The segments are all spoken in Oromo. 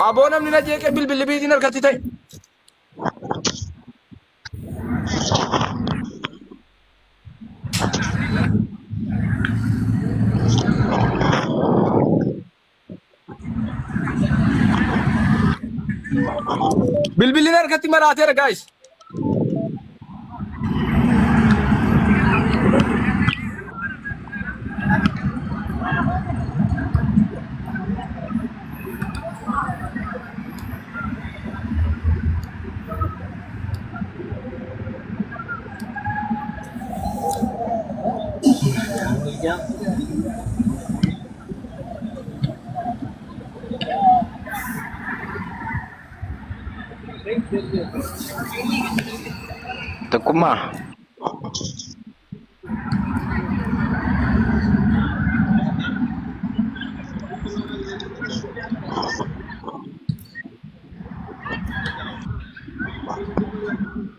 Aboo namni na jeeqee bilbilli biitiin harkatti ta'e. Bilbilli harkatti maraateera guys. Tokkummaa.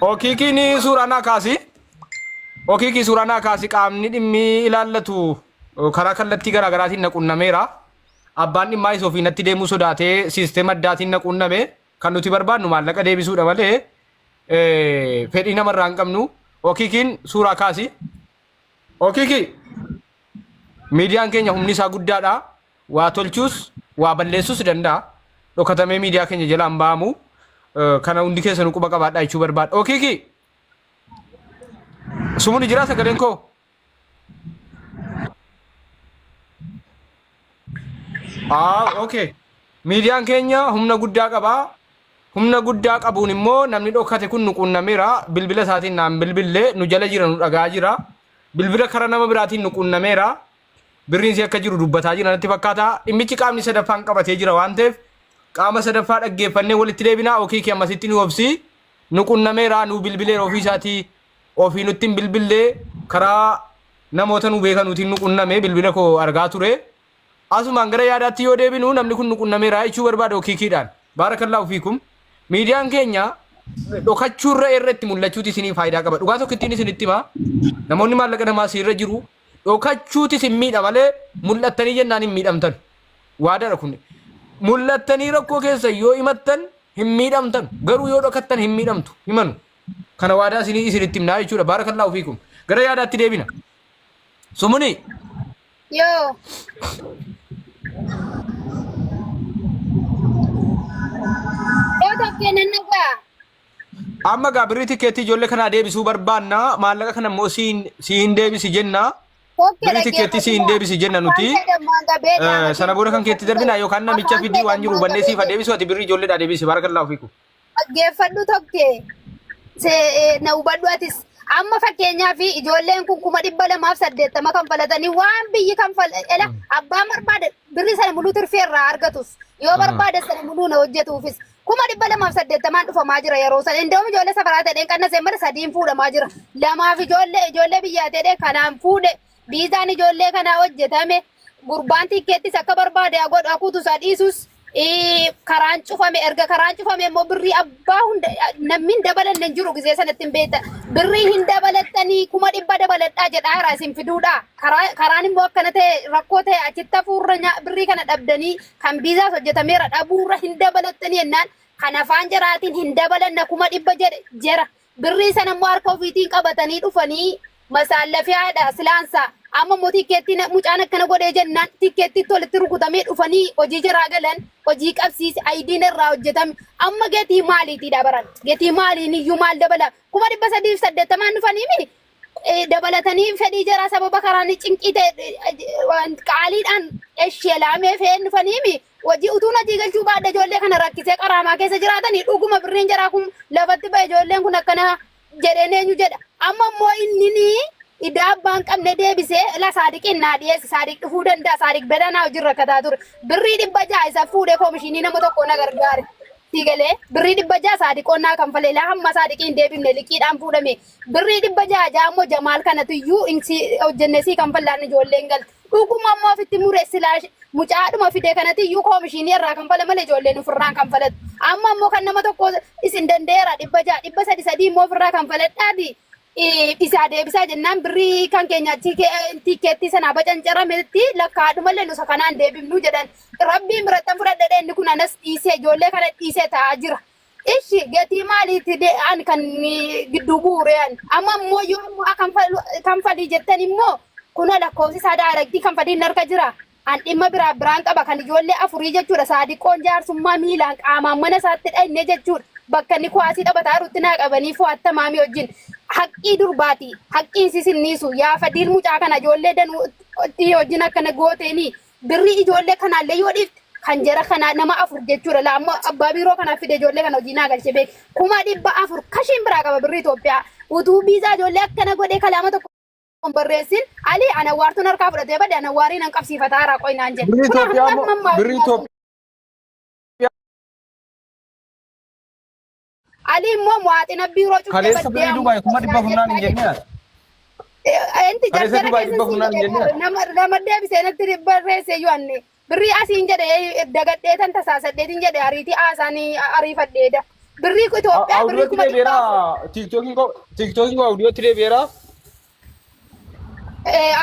Okiikiin suuraa naa kaasi. Okiikii suuraa naa kaasi qaamni dhimmi ilaallatu karaa kallattii garaagaraatiin na qunnameera. Abbaan dhimmaa isa ofii natti deemuu sodaatee siisteema addaatiin na quunname kan nuti barbaadnu maallaqa deebisuudha malee eh, fedhii namarraa hin qabnu. Okiikiin suuraa kaasi. Okiikii miidiyaan keenya humni isaa guddaadha. Waa tolchuus waa balleessuus danda'a. Dhokatamee miidiyaa keenya jalaa hin ba'amu. Eh, Kana hundi keessanuu quba qabaadhaa jechuu barbaada. Okiikii sumuni jiraa sagaleen koo? Ah, okay. Miidiyaan keenya humna guddaa qaba. Humna guddaa qabuun immoo namni dhokate kun nu quunnameera. Bilbila isaatiin naan bilbille nu jala jira nu dhagaa jira. Bilbila karaa nama biraatiin nu quunnameera. Birriin si akka jiru dubbataa jira natti fakkaata. Dhimmichi qaamni sadaffaan qabatee jira waan ta'eef qaama sadaffaa dhaggeeffannee walitti deebinaa okiikii ammasitti nu obsi. Nu quunnameera nu bilbileera ofii isaatii Ofii nutti hin bilbille karaa namoota nu beekanuutiin nu qunname bilbila koo argaa ture. Asumaan gara yaadaatti yoo deebinu namni kun nu qunnameera jechuu barbaada okiikiidhaan. Baarakallaahu fiikum. Miidiyaan keenya dhokachuurra irra itti mul'achuuti isinii faayidaa qaba. Dhugaa tokkittiin isinitti hima. Namoonni maallaqa namaa isinirra jiru dhokachuuti isin miidha malee mul'attanii jennaan hin miidhamtan. Waadaadha kun. Mul'attanii rakkoo keessa yoo himattan hin miidhamtan. Garuu yoo dhokattan hin miidhamtu. Himanu. kana waadaa isinii isinitti himnaa jechuudha baarakallaahu fiikum gara yaadaatti deebina sumunii Yoo. Yoo tokkee nan nagaa. amma gaa birrii tikeettii ijoollee kanaa deebisuu barbaanna maallaqa kana immoo si hin- si hin deebisi jenna Tokkee birrii tikeettii si hin deebisi jenna nuti Eh, sana booda kan keetti darbina yookaan namicha fidii waan jiru hubannee siifa deebisu ati birrii ijoolleedhaa deebisi baarakallaahu fiikum Dhaggeeffadhu tokkee see- na hubadhu atis. Amma fakkeenyaaf ijoolleen kun kuma dhibba lamaaf saddeettama kan falatanii waan biyyi kan fal ela abbaan barbaade birri sana muluu tirfee irraa argatus yoo barbaade sana muluu na hojjetuufis kuma dhibba lamaaf saddeettamaan dhufamaa jira yeroo sana indoom ijoollee safaraa ta'een qannasee mara sadiin fuudhamaa jira lamaaf ijoollee ijoollee biyyaa ta'ee kanaan fuudhe viizaan ijoollee kanaa hojjetame gurbaan tikkeettis akka barbaade haa godhu haa kutu isaa dhiisus ii, karaan cufame erga karaan cufame immoo birrii abbaa hunda namni hin dabalanne hin jiru gisee sanatti hin beektan birrii hin dabalattanii kuma dhibba dabaladhaa jedhaa jira isin fiduudha karaa karaan immoo akkana ta'e rakkoo ta'e achitti hafuurra nyaa- birrii kana dhabdanii kan viizaas hojjetameera dhabuurra hin dabalattanii jennaan kan afaan jaraatiin hin dabalanna kuma dhibba jedhe jera Birrii sana immoo harka ofiitiin qabatanii dhufanii masaallafee haadha silaansaa amma immoo tikkeettii na- mucaan akkana godhee jennaan tikkeettiitti walitti rukutamee dhufanii hojii jaraa galan hojii qabsiisi ayidiin irraa hojjetame amma gatii maaliitiidha baran gatii maaliin iyyuu maal dabala kuma dhibba sadiif saddeettamaan dhufanii miti eh, dabalatanii fedhii jaraa sababa karaan cinqii ta'e eh, waan qaaliidhaan eshelaamee feen dhufaniimi hojii utuu natii galchuu baadha ijoollee kana rakkisee qaraamaa keessa jiraatanii dhuguma birriin jaraa kun lafatti ba'e ijoolleen kun akkana jedheen eenyu jedha amma immoo innini idaa abbaan qabne deebisee la saadiqiin naa dhiyeessi saadiq dhufuu danda'a saadiq belanaa hojii rakkataa ture birrii dhibba ja'a isa fuudhee koomishinii nama tokkoo na gargaare. Sigalee birrii dhibba ja'a saadiqoonnaa kan falee laa hamma saadiqiin deebifne liqiidhaan fuudhame Birrii dhibba ja'a ja'a immoo Jamaal kanatu iyyuu hin si hojjenne sii kan fallaan ijoolleen galte. Dhuguma immoo ofitti mure silaa sh- mucaadhuma fide kanati iyyuu koomishiinii irraa kan fala malee ijoolleen ofirraan kan falatu. Amma immoo kan nama tokko isin danda'eera dhibba ja'a dhibba sadi sadii immoo ofirraa kan faladhaati. Eh, Isaa deebisaa jennaan birrii kan keenya achi ke- tikkeettii sanaa bacancarametti lakkaadhumallee nusa kanaan deebifnu jedhan. Rabbiin birattan fudhadhedhe inni kun anas dhiisee ijoollee kana dhiisee taa'aa jira. Ishi gatii maaliiti de an kan gidduu bu'uure an amma immoo yoo immoo a kanfalii jettan immoo kunoo lakkoofsi isaa daaraktii kanfalii hin harka jira an dhimma biraa biraan qaba kan ijoollee afurii jechuudha saadiqoon jaarsummaa miilaan qaamaan mana isaatti dhayne jechuudha bakka inni kuwaasii taphataa jirutti naa qabanii fo'atta maamii wajjin haqqii durbaati haqqiin sisinniisu yaa fadiil mucaa kana ijoollee danuu itti wajjin akkana gooteenii Birrii ijoollee kanaallee yoo dhiifte kan jara kanaa nama afur jechuudha. Laa ammoo abbaa biiroo kanaaf fide ijoollee kana hojii naa galchee beek. Kuma dhibba afur kashiin biraa qaba birrii Itoophiyaa. Utuu biizaa ijoollee akkana godhee kalaama tokko hin barreessin ali anawwaartuun harkaa fudhatee bade anawwaarii nan qabsiifata haaraa qoy naan jedhe. Birrii Kunoo Itoophiyaa hamma ammaa birrii Itoophiyaa. Ali immoo muwaaxina biiroo cuftee Kaleessa baddee birrii Dubaay kuma dhibba funnaan hin jennee ati. Enti Kaleessa jarjara Dubaay dhibba funnaan hin jennee ati. nama nama deebisee natti barreessee yoo anne birrii asiin jedhe dagadhee tan tasaasadheetiin jedhe ariitii haasaanii ariifadheeda. Birrii Itoophiyaa birrii Awudiyootti kuma dhibba deebi'eera. Tiiktookiin koo tiiktookiin koo awudiyootti deebi'eera.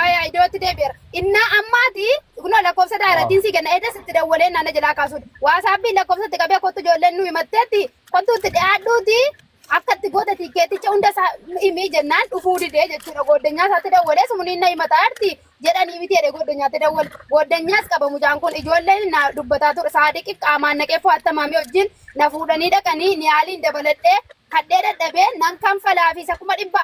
Ayaa iddootti deebi'eera. Innaa ammaati kunoo lakkoofsa daaratiin si kenna eedas itti dawwalee naana jalaa kaasuudha. Waasaappiin lakkoofsa itti qabee kottu ijoolleen nu himatteetti kottu itti dhiyaadhuuti akka itti goota tiikkeeticha hunda isaa himii jennaan dhufuu didee jechuudha. Gooddanyaa isaatti dawwalee sumniin na himataa jirti jedhanii miti jedhee gooddanyaatti dawwale. Gooddanyaas qaba mucaan kun ijoolleen na dubbataa ture saadiqi qaamaan naqee fo'atta maamii wajjin na fuudhanii dhaqanii niyaaliin dabaladhee kadhee dadhabee nan kanfalaafi isa kuma dhibba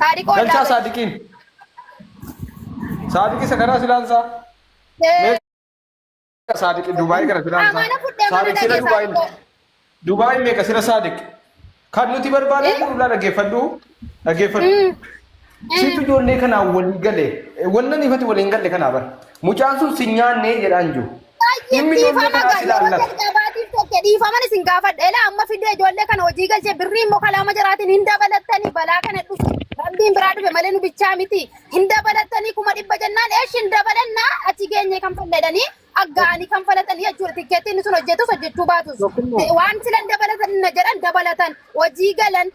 Saadiqoo Galchaa irraa saadiqiin. Saadiqii isa kanaa silaansaa. Mee saadiqii Dubaayii kana silaansaa. Amaana fudhee mana Saadiqii dhaqee Dubaayii. saadiqoo. Dubaayii meeqa sira saadiq. Kan nuti barbaadee jiru irraa dhaggeeffadhu. Dhaggeeffadhu. Situ ijoollee kanaa walii gale. Wanna nifati waliin galle kanaa bara. Mucaan sun si nyaannee jedhaan jiru. Dhimmi ijoollee kana as ilaallata. Gabaatiif tokko dhiifaman isin gaafadha. Ela amma fidee ijoollee kana hojii galchee birrii immoo kalaama jiraatiin hin dabalattanii balaa kana dhufu. Rabbiin biraa dhufe malee nu bichaa miti. Hin dabalattanii kuma dhibba jennaan eesh hin dabalanna achi geenye kan falladanii aggaa'anii kan falatanii jechuudha. Tikkeettiin sun hojjetus hojjechuu baatus. Waan silan dabalatan na jedhan dabalatan hojii galan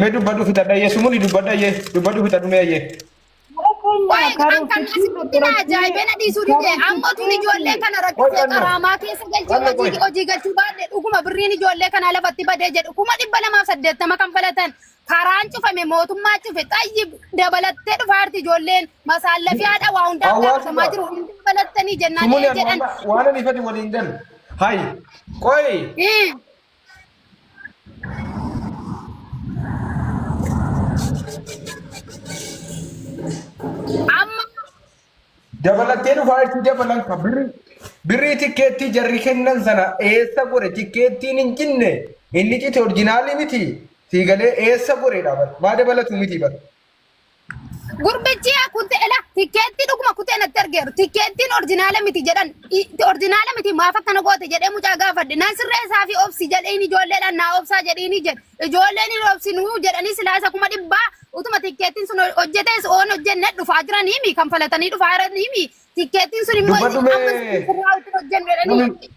Mee dubbadhu fixadha ayyee sumuni dubbadha ayyee dubbadhu fixadhu mee ayyee. Mara keenya Waa'ee kan kan karoorsichi asii kun na ajaa'ibee na dhiisuu dide amma tun ijoollee kana rakkisee qaraamaa keessa galchee hojii hojii galchuu baadhe dhuguma birriin ijoollee kanaa lafatti badee jedhu kuma dhibba lamaaf saddeettama kan falatan karaan cufame mootummaa cufe xayyi dabalattee dhufaarti ijoolleen masaallafii haadha waa hundaa gaafatamaa jiru hundi dabalattanii jennaan Sumuni ee jedhan waan ani fadi waliin galu. Hayi. Qoyi. Ii. Amma Dabalattee dhufaa itti dabalan ka birri. Birrii tikkeettii jarri kennan sana eessa gore tikkeettiin hin cinne inni cite orjinaalii miti sii galee eessa goreedha bara maa dabalatu miti bara Gurbichi yaa kutte ela tikkeettii dhuguma kutte natti argeeru tikkeettiin orjinaala miti jedhan I- orjinaala miti maaf akkana goote jedhee mucaa gaafadhe nan sirreessaa fi obsi jedheen ijoolleedhaan naa obsaa jedheenii jedhe ijoolleen hin obsinuu jedhanii silaa isa kuma dhibbaa utuma tikkeettiin sun hojjetees oon hojjenne dhufaa jiranii mi kan falatanii dhufaa jiranii mi tikkeettiin sun immoo Dubbadhu mee. ammas sirraa utuu hojjennu jedhanii Namni-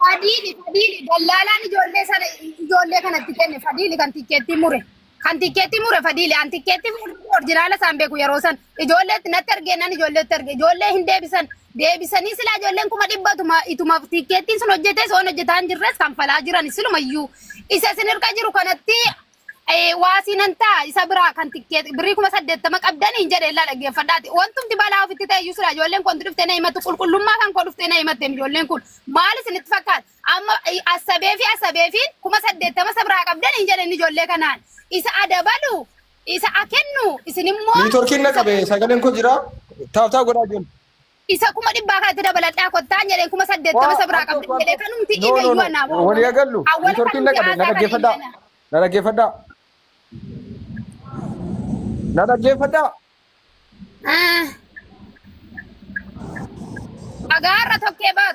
Fadiili fadiili dallaalaan ijoollee sana ijoollee kanatti kenne fadiili kan tikkeettii mure kan tikkeettii mure fadiili an tikkeettii fudhuu orjinaala isaan beeku yeroo san ijoolleetti natti argee nan ijoolleetti arge ijoollee hin deebisan deebisanii silaa ijoolleen kuma dhibba ituma ituma tikkeettiin sun hojjetee soon hojjetaa hin jirres kan falaa jiran silumayyuu isa isin hirka jiru kanatti Eh, waa siin hin ta'a isa biraa kan tikkeeti birrii kuma saddeettama qabdanii hin jedhe illaa dhaggeeffadhaati wantumti balaa ofitti ta'e iyyuu sila ijoolleen kun dhuftee na himattu qulqullummaa kan koo dhuftee na himatteem ijoolleen kun maal isinitti fakkaata amma eh, asabee fi asabee fi kuma saddeettama isa biraa qabdanii hin jedhe inni ijoollee kanaan isa adabalu isa akennu isin immoo Niitworkiin na qabe sagaleen koo jira. Taaf taaf godhaa jiru. Isa kuma dhibbaa kanatti dabaladhaa kottaan jedheen kuma saddeettama isa biraa qabdee jedhee kanumti ime iyyuu anaa wal walii agallu nitorkiin na qabe na dhaggeeffadhaa na dhaggeeffadhaa na dhaggeeffadhaa Agaa har'a tokkee bar.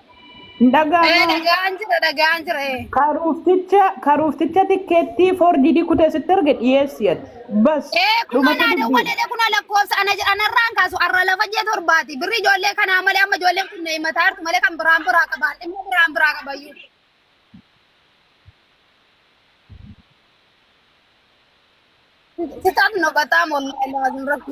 Hin Ee dhaga'amaa? dhaga'aan jira dhaga'aan jira ee. Karuufticha karuufticha tikkeettii foorjidii kutee sitti erge dhiyeessi ati. Bas Ee kun dhumate anaa dubbiin. dawwalee kun lakkoofsa ana anarraan kaasu arra lafa jee torbaati. Birri ijoollee kanaa malee amma ijoolleen kun na himataa jirtu malee kan biraan biraa qabaa. Dhimma biraan biraa qabayyuu. Sitat no bataa mollaa ilaa zimratti.